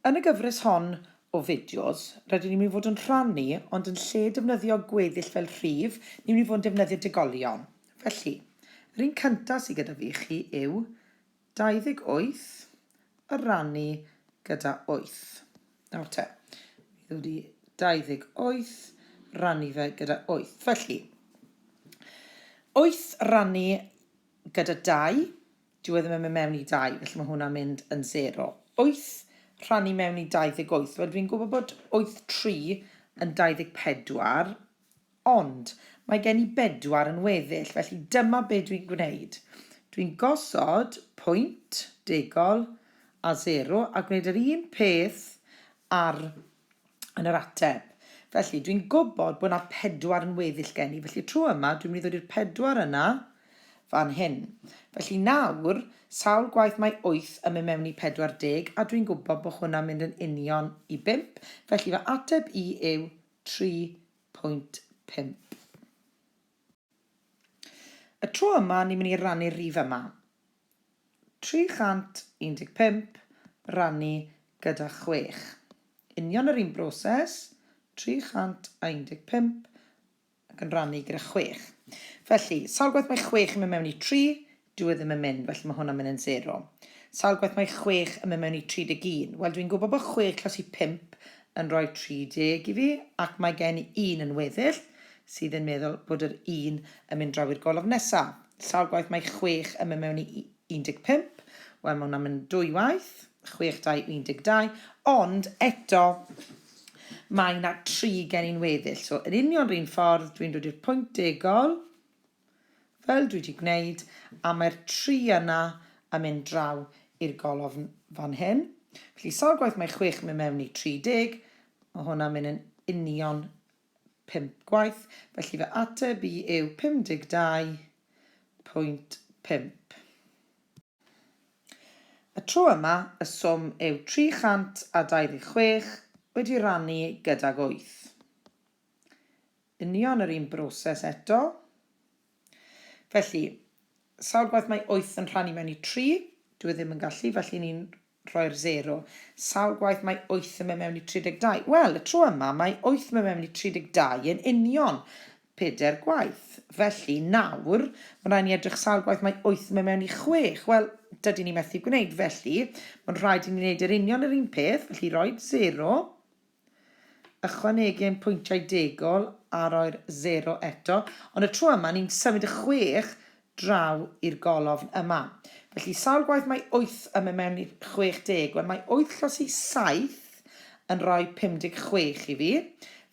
Yn y gyfres hon o fideos, rydyn ni'n mynd i fod yn rhannu, ond yn lle defnyddio gweddill fel rhif, ni'n mynd i fod yn defnyddio degolion. Felly, yr un cyntaf sydd gyda fi i chi yw 28 a rannu gyda 8. Nawr te, mi ddod i 28, rannu fe gyda 8. Felly, 8 rannu gyda 2, Dyw e ddim yn mynd mewn i dau, felly mae hwnna'n mynd yn sero. Wyth rhannu mewn i 28. Wel, dwi'n gwybod bod wyth tri yn 24, ond mae gen i bedwar yn weddill, felly dyma be dwi'n gwneud. Dwi'n gosod pwynt degol a sero a gwneud yr un peth ar yn yr ateb. Felly, dwi'n gwybod bod yna pedwar yn weddill gen i. Felly, tro yma, dwi'n mynd i ddod i'r pedwar yna fan hyn. Felly nawr, sawl gwaith mae 8 yn mynd mewn i 40, a dwi'n gwybod bod hwnna'n mynd yn union i 5. Felly, fy ateb i yw 3.5. Y tro yma, ni'n mynd i rannu'r rif yma. 315 rannu gyda chwech. Union yr un broses, 315 ac yn rannu gyda chwech. Felly, sawl gwaith mae chwech yn mynd mewn i tri? Dyw e ddim yn mynd, felly mae hwnna'n mynd yn sero. Sawl gwaith mae chwech yn mynd mewn i 31? Wel, dwi'n gwybod bod chwech tros i pump yn rhoi 30 i fi, ac mae gen i un yn weddill sydd yn meddwl bod yr un yn mynd draw i'r golofn nesaf. Sawl gwaith mae chwech yn mynd mewn i 15? Wel, mae hwnna'n mynd dwy waith. Chwech, dau, 12. Ond eto, mae yna tri gen i'n weddill. So, yr union rhywun ffordd, dwi'n dod i'r pwynt degol, fel dwi wedi gwneud, a mae'r tri yna yn mynd draw i'r golofn fan hyn. Felly, sawl gwaith mae chwech yn mynd mewn i 30? Mae hwnna'n mynd yn union pump gwaith, felly fy ateb i yw 52.5. Y tro yma, y swm yw 326 wedi rannu gydag 8. Union yr un broses eto. Felly, sawl gwaith mae wyth yn rhannu mewn i tri? Dyw e ddim yn gallu, felly ni'n rhoi'r sero. Sawl gwaith mae wyth yn mynd mewn i 32? Wel, y tro yma mae wyth mynd mewn i 32 yn union pedair gwaith. Felly, nawr, mae'n rhaid ni edrych sawl gwaith mae wyth yn mynd mewn i chwech. Wel, dydyn ni methu gwneud, felly mae'n rhaid i ni wneud yr union yr un peth, felly rhoi'r sero. Ychwanegu ein pwyntiau degol a rhoi'r sero eto, ond y tro yma ni'n symud y chwech draw i'r golofn yma. Felly, sawl gwaith mae wyth yn mynd mewn i chwech deg? Wel, mae wyth llos i saith yn rhoi pum deg chwech i fi,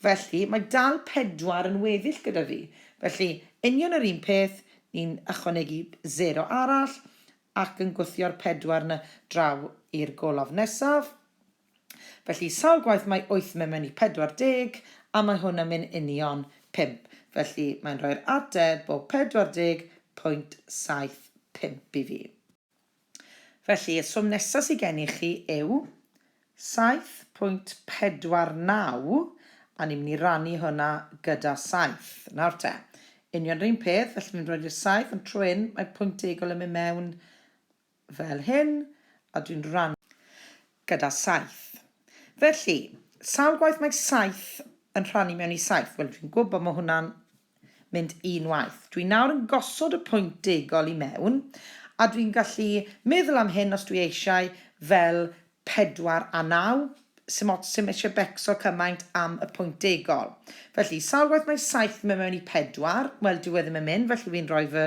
felly mae dal pedwar yn weddill gyda fi. Felly, union yr un peth, ni'n ychwanegu sero arall ac yn gwthio'r pedwar 'na draw i'r golofn nesaf. Felly sawl gwaith mae wyth myn myn i pedwar deg, a mae hwn yn myn union pump, felly mae'n rhoi'r ateb o pedwar deg pwynt saith pump i fi. Felly, y swm nesaf sydd gen i chi yw saith pwynt pedwar naw, a ni'n mynd i rannu hwnna gyda saith. Nawr te, union yr un peth, felly fi'n rhoid i'r saith, ond tro hyn, mae pwynt degol yn mynd mewn fel hyn, a dwi'n rhannu gyda saith. Felly, sawl gwaith mae saith yn rhannu mewn i saith? Wel, dwi'n gwybod mae hwnna'n mynd un waith. Dwi nawr yn gosod y pwynt degol i mewn, a dwi'n gallu meddwl am hyn os dwi eisiau fel 4 a 9, Sdim ots, ti'm eisiau becso cymaint am y pwynt degol. Felly, sawl gwaith mae 7 yn mynd mewn i 4? Wel, dyw e ddim yn mynd, felly fi'n rhoi fy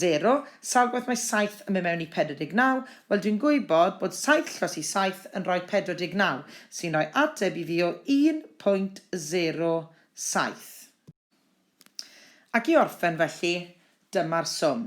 sero. Sawl gwaith mae 7 yn mynd mewn i 49? Wel, dwi'n gwybod bod 7 llos i 7 yn rhoi 49, sy'n rhoi ateb i fi o 1.07. Ac i orffen felly, dyma'r swm.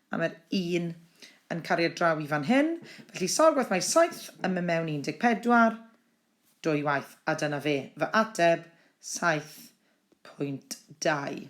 a mae'r un yn cariad draw i fan hyn, felly sawl gwaith mae 7 yn mynd mewn 14? Dwy waith, a dyna fe, fy ateb, 7.2.